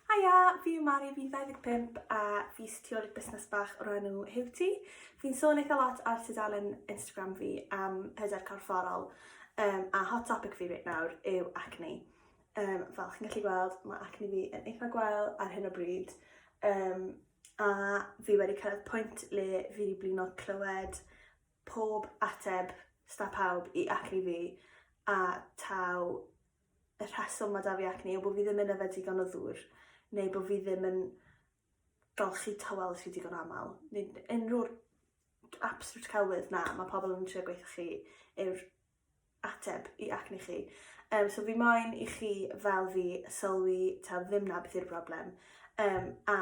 Haia, fi yw Mari, fi'n 25 a fi sy'n rheoli busnes bach o'r enw Hewti. Fi'n sôn eitha lot ar tudalen Instagram fi am hyder corfforol um, a hot topic fi reit nawr yw acne. Um, fel chi'n gallu gweld, mae acne fi yn eitha gwael ar hyn o bryd. Um, a fi wedi cyrraedd pwynt le fi wedi blino clywed pob ateb sta pawb i acne fi a taw y rheswm mae 'da fi acne yw bod fi ddim yn yfed digon o ddŵr, neu bod fi ddim yn golchi tywel rhy digon aml, neu unrhyw'r absolute celwydd na, mae pobl yn trio gweithio chi yw'r ateb i acne chi. Um, so fi moyn i chi fel fi sylwi ta ddim na beth yw'r broblem. Um, a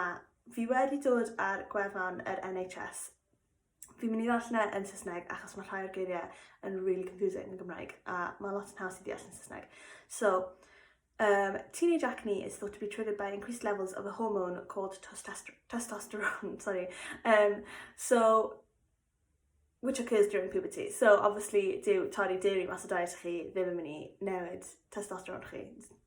fi wedi dod ar gwefan yr NHS Fi'n mynd i ddarllen e yn Saesneg achos mae rhai o'r geiriau yn really confusing yn Gymraeg a mae lot yn haws i ddeall yn Saesneg. So, um, teenage acne is thought to be triggered by increased levels of a hormone called testosterone, sorry. Um, so, which occurs during puberty. So, obviously, dyw torri dairy mas o diet chi ddim yn mynd i newid testosterone chi.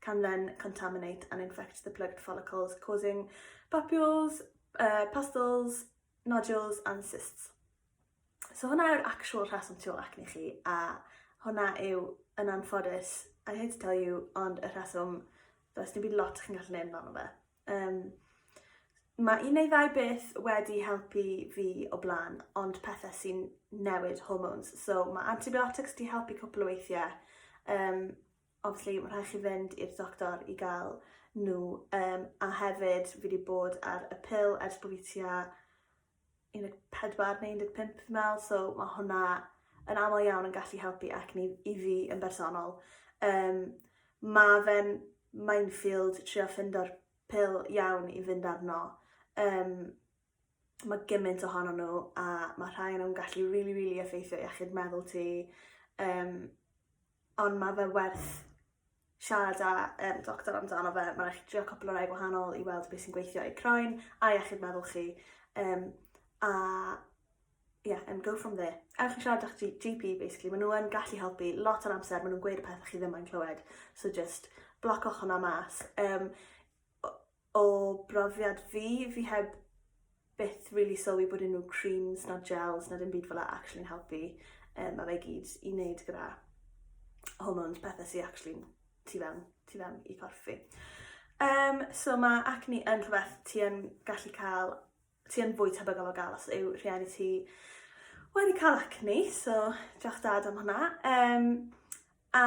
can then contaminate and infect the plugged follicles, causing papules, uh, pustles, nodules and cysts. So hwnna yw'r actual rheswm tu ôl acne chi, a hwnna yw yn anffodus, I hate to tell you, ond y rheswm, does dim byd lot chi'n gallu neud amdano fe. Um, mae un neu ddau beth wedi helpu fi o blaen, ond pethau sy'n newid hormones. So mae antibiotics di helpu cwpl o weithiau, um, obviously ma' rhai' chi fynd i'r doctor i ga'l n'w yym a hefyd fi 'di bod ar y pil ers bo' fi tua un deg pedwar neu un deg pump fi'n me'wl so ma' hwnna yn amal iawn yn gallu helpu acne i fi yn bersonol. Yym ma' fe'n minefield trio ffindo'r pil iawn i fynd arno yym mae gymaint ohono nhw a mae rhai o'n nhw'n gallu rili, really, rili really effeithio iechyd meddwl ti. Um, ond mae fe werth siarad â um, doctor amdano fe. Mae'n eich drio cwpl o rai gwahanol i weld beth sy'n gweithio i croen a iechyd meddwl chi. Um, a yeah, and go from there. Ewch i siarad â'ch GP, basically. Maen nhw'n gallu helpu lot o'r amser, maen nhw'n gweud y pethau chi ddim yn clywed. So just blococh hwnna mas. Um, O brofiad fi, fi heb byth rili sylwi bod unrhyw creams na gels na dim byd fel 'a actually'n helpu. Yym ma' fe i gyd i wneud gyda hormones, pethe sy actually'n tu fewn, tu fewn i corff fi. Yym so ma' acne yn rhwbeth ti yn gallu ca'l, ti yn fwy tebygol o ga'l os yw rhieni ti wedi ca'l acne, so diolch dad am hwnna. Yym a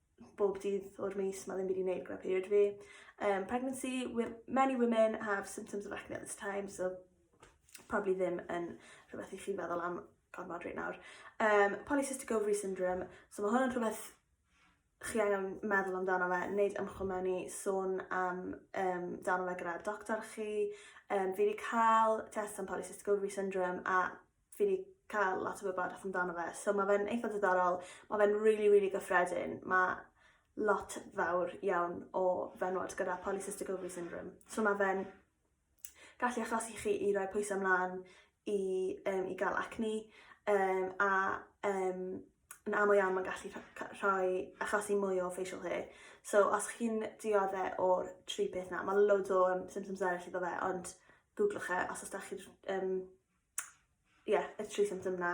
bob dydd o'r mis, mae ddim wedi wneud gyda period fi. Um, pregnancy, many women have symptoms of acne at this time, so probably ddim yn rhywbeth i chi feddwl am gormod reit nawr. Um, polycystic ovary syndrome, so mae hwn yn rhywbeth chi angen meddwl amdano fe, wneud ymchwil mewn i sôn am um, dan fe gyda'r doctor chi. Um, fi wedi cael test am polycystic ovary syndrome a fi 'di ca'l lot o wybodaeth amdano fe so ma' fe'n eitha diddorol ma' fe'n rili rili gyffredin ma' lot fawr iawn o fenywod gyda polycystic ovary syndrome so ma' fe'n gallu achosi chi i roi pwyse mlan i yym i ga'l acne yym a yym yn amal iawn ma'n gallu rho- cy- rhoi achosi mwy o facial hair so os chi'n diodde o'r tri peth 'na ma' loads o yym symptoms eryll iddo fe ond gwglwch e os os 'dach chi'r yym ie y tri symptom 'na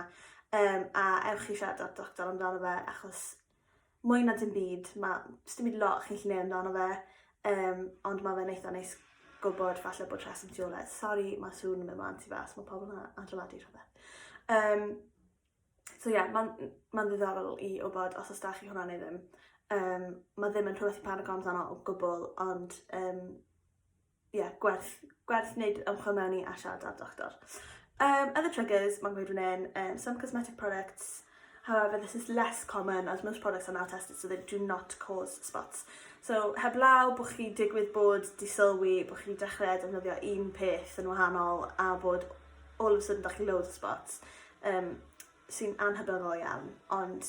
yym a ewch i siarad 'da'r doctor amdano fe achos mwy na dim byd ma' m- sdim byd lot chi'n gallu neud amdano fe yym ond ma' fe'n eitha neis gwbod falle bod rheswm tu ôl e. Sori ma' sŵn yn myn' mlan tu fas ma' pobol yn a- adeiladu rhwbeth. Yym so ie ma'n m- ma'n ddiddorol i wbod os o's 'da chi hwnna ne' ddim. Yym ma' ddim yn rhwbeth i panico amdano o gwbwl ond yym ie, yeah, gwerth, gwerth wneud ymchwil mewn i a siarad â'r doctor. Um, other triggers, mae'n gweud fan um, some cosmetic products, however this is less common as most products are now tested so they do not cause spots. So heblaw bod chi digwydd bod di sylwi bod chi dechrau defnyddio un peth yn wahanol a bod all of a sudden da chi loads of spots um, sy'n anhybyddol iawn ond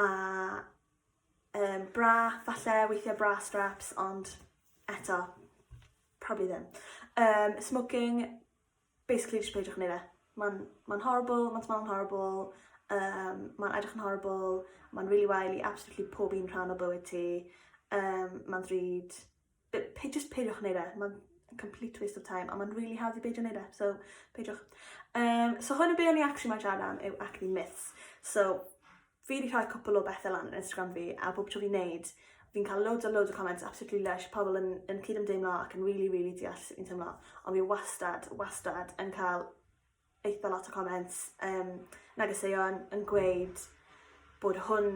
A yym bra falle, weithiau bra straps ond eto probably ddim. Um, smoking, basically just peidiwch yn ei fe. Mae'n ma horrible, mae'n smelio'n horrible, um, mae'n edrych yn horrible, mae'n really wael i absolutely pob un rhan o bywyd ti, um, mae'n ddrud, Be- pe- jyst peidiwch neud e ma'n complete waste of time a ma'n rili hawdd i beidio neud e so peidiwch. Yym so hwn yn be' o'n i actually moyn siarad am yw acne myths. So fi 'di rhoi cwpwl o bethe lan ar Instagram fi a bob tro fi'n neud fi'n ca'l loads a loads o comments absolutely lysh pobol yn yn cyd-ymdeimlo ac yn rili rili deall sut fi'n teimlo on' fi wastad wastad yn ca'l eitha lot o comments yym negeseuon yn gweud bod hwn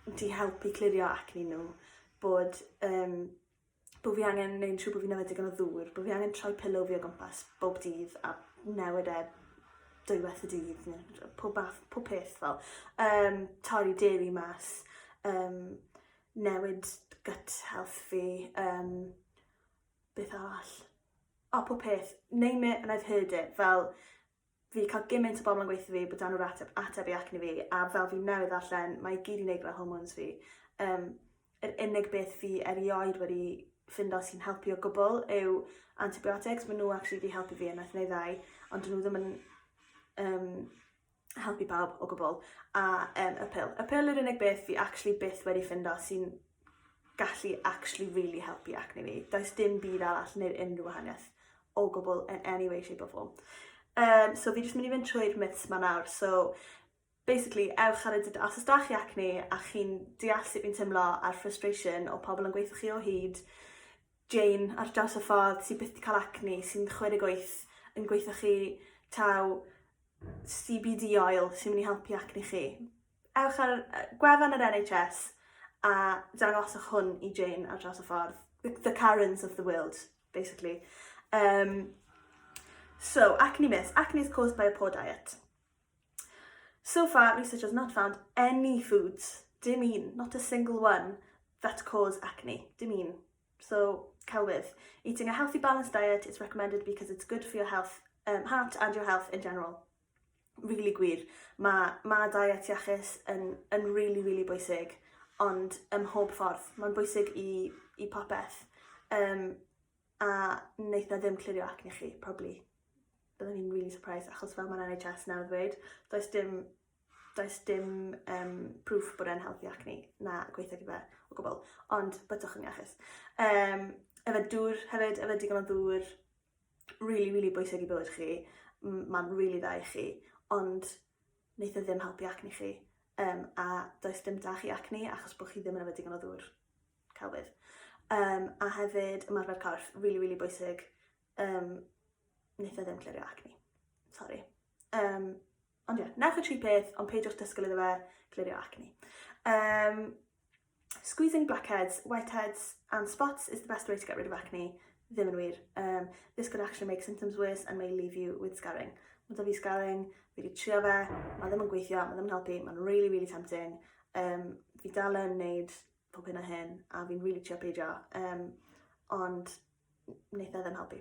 'di helpu clirio acne n'w, bod yym bo' fi angen neud yn siŵr bo' fi'n yfed digon o ddŵr, bo' fi angen troi pillow fi o gwmpas bob dydd a newid e dwywaith y dydd ne' jy- pob math pob peth fel yym torri deli mas yym newid gut health fi yym beth arall? O, oh, pob peth. Name it and I've heard it. Fel, fi cael gymaint o bobl yn gweithio fi bod dan nhw'r ateb, ateb i acne fi, a fel fi newydd ddarllen, mae gyd i'n neud gyda hormones fi. Um, yr unig beth fi erioed wedi ffindo sy'n helpu o gwbl yw antibiotics. Mae nhw actually wedi helpu fi yn athneddau, ond dyn nhw ddim yn um, helpu pawb o gwbl, a um, y pil. Y pil yw'r unig beth fi actually byth wedi ffindo sy'n gallu actually really helpu acne fi. Does dim byd arall neu'r unrhyw wahaniaeth o gwbl in any way, shape or form. Um, so fi jyst mynd i fynd trwy'r myths ma nawr. So basically, ewch ar y dyd, os ydych chi acne a chi'n deall sut fi'n teimlo a'r frustration o pobl yn gweithio chi o hyd, Jane ar draws y ffordd sy'n byth wedi cael acne, sy'n 28 yn gweithio chi taw CBD oil sy'n mynd i helpu acne chi. Ewch ar gwefan yr NHS a dangoswch hwn i Jane ar draws y ffordd. The, the Karens of the world, basically. Um, so, acne myths. Acne is caused by a poor diet. So far, research has not found any foods, dim un, not a single one, that cause acne, dim un. So, celwydd. Eating a healthy balanced diet is recommended because it's good for your health, um, heart and your health in general. Really gwir. Mae ma diet iachus yn, yn really, really bwysig, ond ym mhob ffordd. Mae'n bwysig i, i popeth. Um, a wneud na ddim clirio ac ni chi, probably. Byddwn ni'n really surprised, achos fel mae'n NHS nawr ddweud, does dim does dim um, proof bod e'n helpu acne na gweithio gyda o gwbl, ond byddwch yn iachus. Um, efo dŵr hefyd, efo digon o ddŵr, really, really bwysig i bywyd chi, mae'n really dda i chi, ond wneud e ddim helpu acne chi, um, a does dim da chi acne achos bod chi ddim yn efo digon o ddŵr celwydd. Um, a hefyd ymarfer corff, really, really bwysig, um, wneud e ddim clirio acne. Sorry. Um, Ond ie, newch y tri peth, ond peidiwch disgwyl iddo fe glirio acne. Um, squeezing blackheads, whiteheads and spots is the best way to get rid of acne. Ddim yn wir. Um, this could actually make symptoms worse and may leave you with scarring. Mae da fi scarring, fi wedi trio fe, mae ddim yn gweithio, mae ddim yn helpu, mae'n really, really tempting. Um, fi dal yn neud pob hyn a hyn, a fi'n really trio peidio, um, ond wneud e ddim helpu.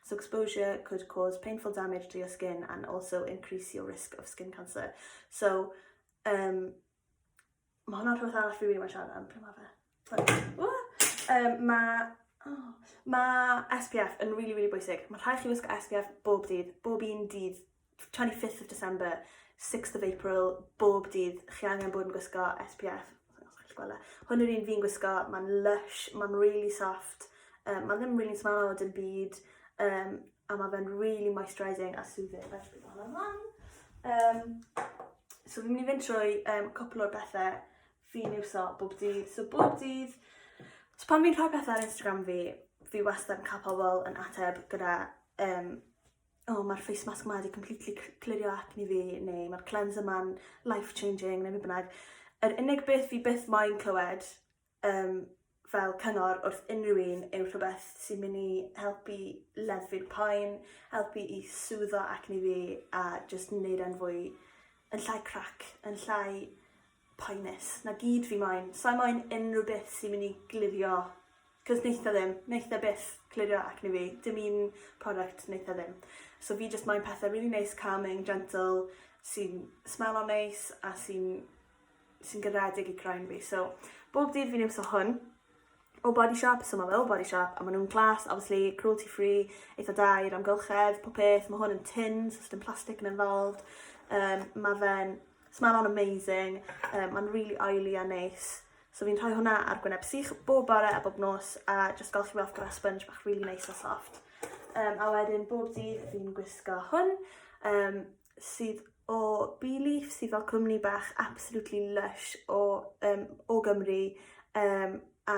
Suxposure could cause painful damage to your skin and also increase your risk of skin cancer. So, um, mae hwnna'n rhywbeth arall fi wedi bod yn siarad am pryd mae fe. Um, mae oh, ma SPF yn really, really bwysig. Mae rhaid chi wisgo SPF bob dydd, bob un dydd 25th of December, 6th of April, bob dydd, chi angen bod yn gwisgo SPF. E. Hwn yw'r un fi'n gwisgo, mae'n lush, mae'n really soft, um, mae ddim really smell o dim byd, um, a mae fe'n really moisturising a soothing. Fe dwi'n bod yn lan. Um, so fi'n mynd i fynd trwy um, cwpl o'r bethau fi'n iwso bob dydd. So bob dydd, so pan fi'n rhoi pethau ar Instagram fi, fi wastad yn cael pobl yn ateb gyda um, oh ma'r face mask 'ma 'di completely c- clirio acne fi neu ma'r cleanser 'ma'n life changing neu be' bynnag. Yr unig beth fi byth moyn clywed yym fel cyngor wrth unryw un yw rhwbeth sy'n myn' i helpu leddfu'r poen helpu i sŵddo acne fi a jyst neud e'n fwy yn llai crac yn llai Poenus. 'Na gyd fi moyn. Sai moyn unrhyw beth sy myn' i glirio 'c'os neith e ddim. Neith e byth clirio acne fi. Dim un product neith e ddim. So fi jyst moyn pethe rili neis calming gentle sy'n smelo neis a sy'n sy'n garedig i croen fi so bob dydd fi'n iwso hwn. O Body Shop, so ma' fel Body Shop a ma' nw'n class obviously cruelty free eitha da i'r amgylchedd pob peth ma' hwn yn tin so sdim plastic yn involved yym ma' fe'n smelon amazing yy ma'n rili oily a neis so fi'n rhoi hwnna ar gwyneb sych bob bore a bob nos a jyst golchi fe off gyda sponge bach rili neis a soft. Yym a wedyn bob dydd fi'n gwisgo hwn yym sydd o Bee Leaf sydd fel cwmni bach absolutely lush o um, o Gymru um, a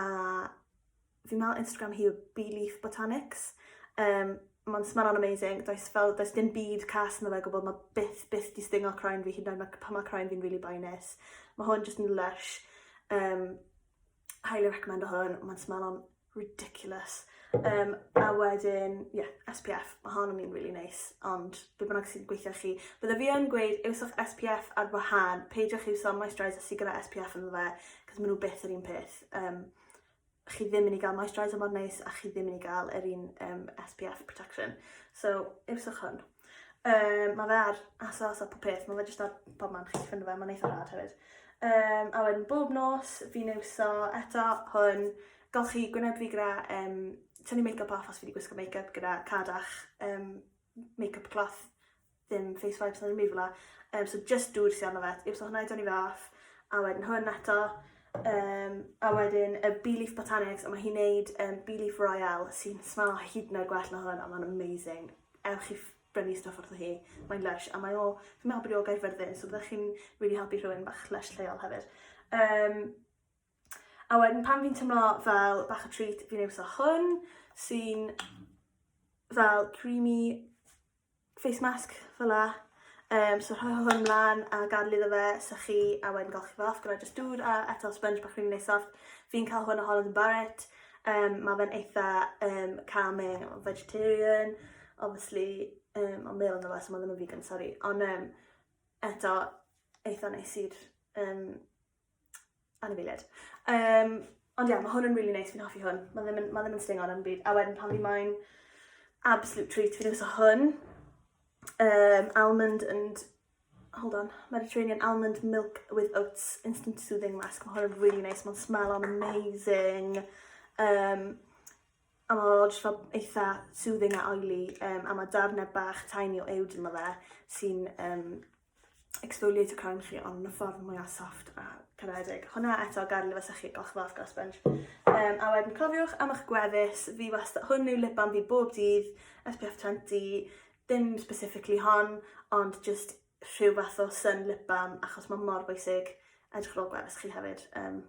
fi'n meddwl Instagram hi yw Bee Leaf Botanics. Um, Mae'n smaro'n amazing. Does, fel, does dim byd cas yn fe gwybod, mae byth, byth di stingo croen fi hyd yn oed pan mae croen fi'n really boenus. Mae hwn jyst yn lush. Um, highly recommend o hwn, mae'n smelon ridiculous. Um, a wedyn, ie, yeah, SPF, mae hon yn mynd really neis, ond be bynnag sy'n gweithio chi. Bydde fi yn gweud, iwswch SPF ar wahan, peidiwch iwso moisturiser sy'n gyda SPF yn fe, cos maen nhw beth yr un peth. Um, chi ddim yn ei gael moisturiser mor neis, a chi ddim yn ei gael yr un um, SPF protection. So, iwswch hwn. Um, mae fe ar ASOS a pob peth, mae fe jyst ar bob man chi'n ffynnu fe, mae'n eitha rhad hefyd. Um, a wedyn bob nos, fi'n iwso eto hwn, golchi gwyneb fi gyda um, tynnu make-up off os fi wedi gwisgo make-up gyda cadach um, make-up cloth, ddim face wipes na ddim byd fel um, so just dŵr sy'n arno fe, yw so hwnna i dynnu fe off, a wedyn hwn eto, um, a wedyn y Bee Leaf Botanics, a mae hi'n neud um, Bee Leaf Royale sy'n smell hyd yn oed gwell na hwn, a mae'n amazing. ewch i brynu stwff wrtho hi. Mae'n lysh a mae o, fi'n meddwl bod e o Gaerfyrddin, so byddech chi'n really helpu rhywun bach lysh lleol hefyd. Um, a wedyn pan fi'n tymlo fel bach o treat, fi'n ei wso hwn, sy'n fel creamy face mask fel la. Um, so rhoi hwn mlaen a gadw iddo fe, sy'ch chi, a wedyn golchi fe off gyda just dŵr a eto sponge bach rhywun neis soft. Fi'n cael hwn o Holland and Barrett. Um, mae fe'n eitha um, calming, vegetarian, obviously, um, ond mewn yna fe, so mae ddim yn vegan, sorry. Ond um, eto, eitha neis i'r um, anifeiliad. Um, ond ie, yeah, mae hwn yn really nice, fi'n hoffi hwn. Mae ddim yn, ma ddim yn stingo yn byd. A wedyn pan fi moyn absolute treat, fi'n iwso hwn. Um, almond and, hold on, Mediterranean almond milk with oats instant soothing mask. Mae hwn yn really nice, mae'n smell on amazing. Um, a mae o'n just fel eitha soothing a oily, um, a mae darnau bach tiny o ewd yma fe sy'n um, exfoliate y crown chi ond yn y ffordd mwyaf soft a caredig. Hwna eto gael efo sychu glas flas glas sponge. Um, a wedyn cofiwch am eich gwefus, fi wastad, hwn yw lip balm fi bob dydd, SPF 20, dim specifically hon, ond just rhyw fath o sun lip balm achos mae mor bwysig edrych ar ôl gwefus chi hefyd. Um,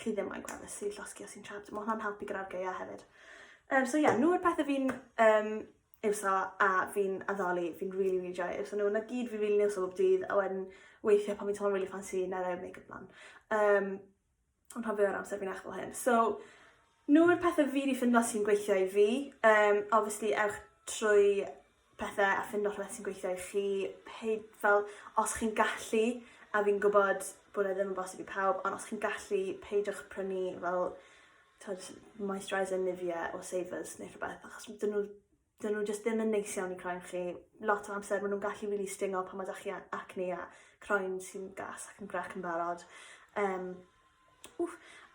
chi ddim moyn gweld mislif llosgi os ti'n trapped. Mae hwnna'n helpu gyda'r geia hefyd. Um, so ie, yeah, nhw yw'r pethau fi'n um, iwso a fi'n addoli, fi'n rili, really, rili really joio iwso nhw. Na gyd fi'n rili really iwso bob dydd, a wedyn weithiau pan fi'n teimlo'n rili really ffansi, na rhaid make-up lan. Um, ond pan fi o'r amser fi'n eich fel hyn. So, nhw yw'r pethau fi wedi ffindo sy'n gweithio i fi. Um, obviously, ewch trwy pethe a ffindo rhwbeth sy'n gweithio i chi pei- fel os chi'n gallu a fi'n gwbod bod e ddim yn bosib i pawb ond os chi'n gallu peidiwch prynu fel t'od moisturiser Nivea or Savers ne' rhwbeth achos m- 'dyn n'w 'dyn n'w jyst ddim yn neis iawn i croen chi. Lot o amser ma' nw'n gallu rili stingo pan ma' 'dach chi a- acne a croen sy'n gas ac yn grac yn barod. Yym. Ww.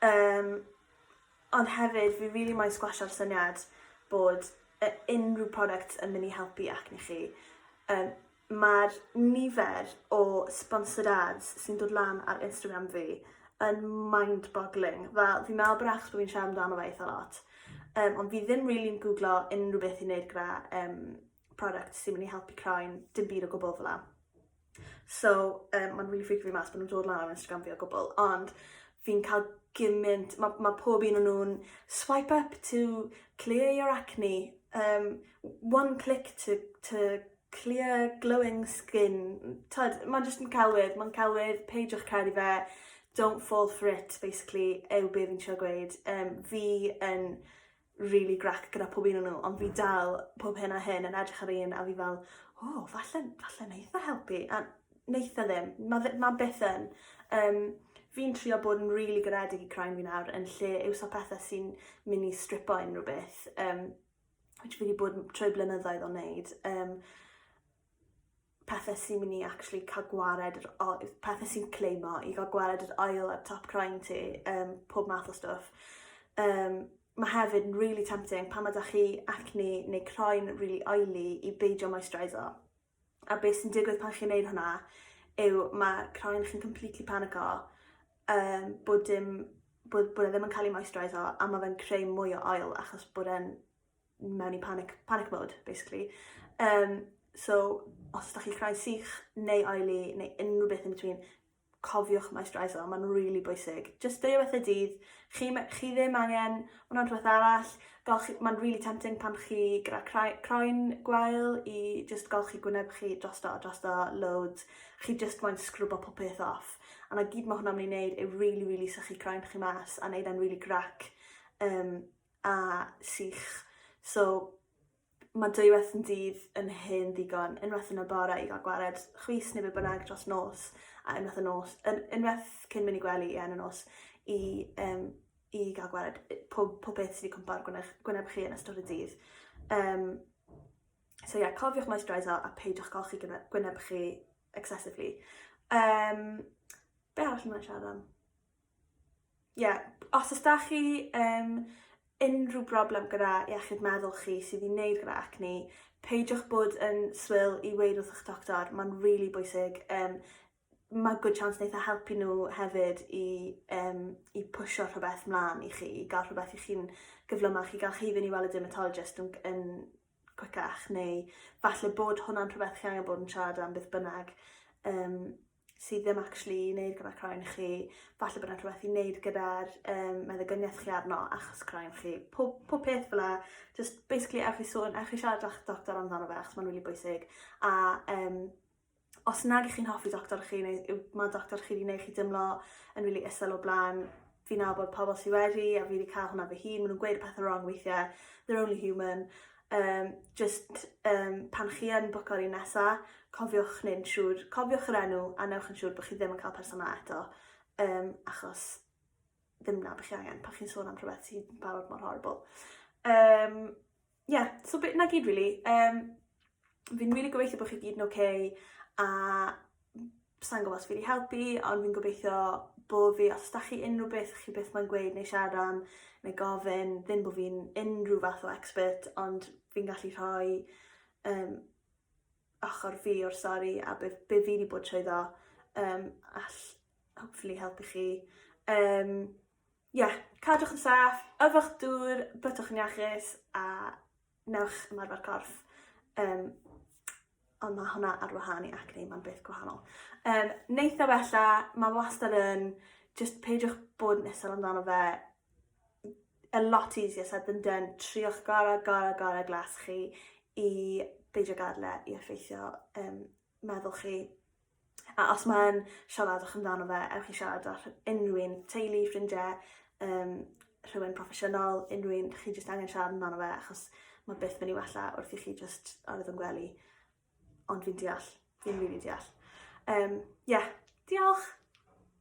Um, ond hefyd, fi really moyn sgwasio'r syniad bod uh, unrhyw product yn mynd i helpu acne chi. Um, Mae'r nifer o sponsored ads sy'n dod lan ar Instagram fi yn mind-boggling. Fel, fi'n meddwl bod achos bod fi'n siarad amdano fe eitha lot. Um, ond fi ddim really'n googlo unrhyw beth i wneud gyda um, products sy'n mynd i helpu croen, dim byd o gwbl fel So, um, mae'n really freaky fi mas bod nhw'n dod lan ar Instagram fi o gwbl, ond fi'n cael gymaint, mae ma pob un o'n nhw'n swipe up to clear your acne, um, one click to, to clear glowing skin. Tyd, mae'n jyst yn celwydd, mae'n celwydd, peidiwch cael ei fe, don't fall for it, basically, yw be fi'n siarad gweud. Um, fi yn rili grac gyda pob un o n'w ond fi dal pob hyn a hyn yn edrych ar un a fi fel o falle falle neith e helpu a neith e ddim. Ma' fe ma' byth yn. Yym fi'n trio bod yn rili garedig i croen fi nawr yn lle iwso pethe sy'n myn' i stripo unrywbeth yym which fi 'di bod 'n troi blynyddoedd o neud yym pethe sy'n myn' i actually ca'l gwared yr o- yy pethe sy'n claimo i ga'l gwared yr ail ar top croen ti yym pob math o stwff. Yym ma' hefyd yn rili tempting pan ma' 'dach chi acne neu croen rili oily i beidio moistureiso a be' sy'n digwydd pan chi'n neud hwnna yw ma' croen chi'n completely panico yym bod dim bod bod e ddim yn ca'l 'i moistureiso a ma' fe'n creu mwy o ail achos bod e'n mewn i panic, panic mode, basically. Um, so, os ydych chi'n creu sych neu oily neu unrhyw beth yn between, cofiwch moisturiser, mae'n rili really bwysig. Just dweud beth y dydd, chi, chi ddim angen hwnna rhywbeth arall, mae'n rili really tempting pan chi gyda croen gwael i just golchi gwyneb chi drosto a drosto loads, chi just moyn sgrwbo popeth off. A na gyd mae hwnna'n mynd i wneud yw really, really sychu croen chi mas a wneud e'n really grac. Um, a sych. So mae dwywaith yn dydd yn hen ddigon, unwaith yn y bore i gael gwared chwys neu be bynnag dros nos, a unwaith y nos, un, unwaith cyn mynd i gwely a yn y nos i, um, i gael gwared pob, pob beth sydd wedi cwmpa'r gwyneb, gwyneb chi yn ystod y dydd. Um, so ie, yeah, cofiwch moisturiser a peidiwch golchi gwyneb chi excessively. Um, be arall yma'n siarad am? Ie, os oes da chi um, unrhyw broblem gyda iechyd meddwl chi sydd i wneud gyda acne, peidiwch bod yn swil i weid wrth eich doctor, mae'n rili really bwysig. Um, mae good chance wneud e helpu nhw hefyd i, um, i pwysio rhywbeth mlaen i chi, i gael rhywbeth i chi'n gyflymach, i gael chi fynd i weld y dermatologist yn, yn cwicach, neu falle bod hwnna'n rhywbeth chi angen bod yn siarad am beth bynnag. Um, sydd ddim actually i neud gyda croen chi falle bod 'na rhwbeth i neud gyda'r yym meddygynieth chi arno achos croen chi. Pob pob peth fel 'a jyst basically ewch i sôn ewch i siarad 'da'ch doctor amdano fe achos ma'n rili bwysig a yym os nag 'ych chi'n hoffi doctor chi neu yw ma' doctor chi 'di neu' chi dimlo yn rili isel o bla'n fi'n nabod pobol sy wedi a fi 'di ca'l hwnna fy hun ma' nw'n gweud pethe rong weithie they're only human Yym, jyst yym pan chi yn bwco'r un nesa, cofiwch neu'n siŵr, cofiwch yr enw a newch yn siŵr bod chi ddim yn cael person yna eto, um, achos ddim na bych chi angen pan chi'n sôn am rhywbeth sy'n barod mor horrible. Um, yeah, so bit na gyd really. Um, fi'n really gobeithio bod chi gyd yn okay a Sa i'n gwybod os fi 'di helpu ond fi'n gobeithio bo' fi. Os 'dach chi unrhyw beth chi byth mo'yn gweud neu siarad am neu gofyn ddim bo' fi'n unrhyw fath o expert ond fi'n gallu rhoi yym ochor fi o'r stori a be' f- be' fi 'di bod trwyddo yym all hopefully helpu chi. Yym ie cadwch yn saff, yfwch dŵr, bytwch yn iachus a newch ymarfer corff, um, ond mae hwnna ar wahân i acne, mae'n beth gwahanol. Um, neith o wella, mae wastad yn, just peidiwch bod yn isel amdano fe, a lot easier said than done, triwch gorau, gorau, gorau glas chi i beidio gadle i effeithio um, meddwl chi A os mae'n siaradwch amdano fe, ewch i siarad â unrhyw un, teulu, ffrindiau, um, rhywun proffesiynol, unrhyw un, chi jyst angen siarad amdano fe, achos mae byth mynd i wella wrth i chi jyst arwydd yn gwely. Ond fi'n deall, fi'n rili deall. Um, yeah, diolch!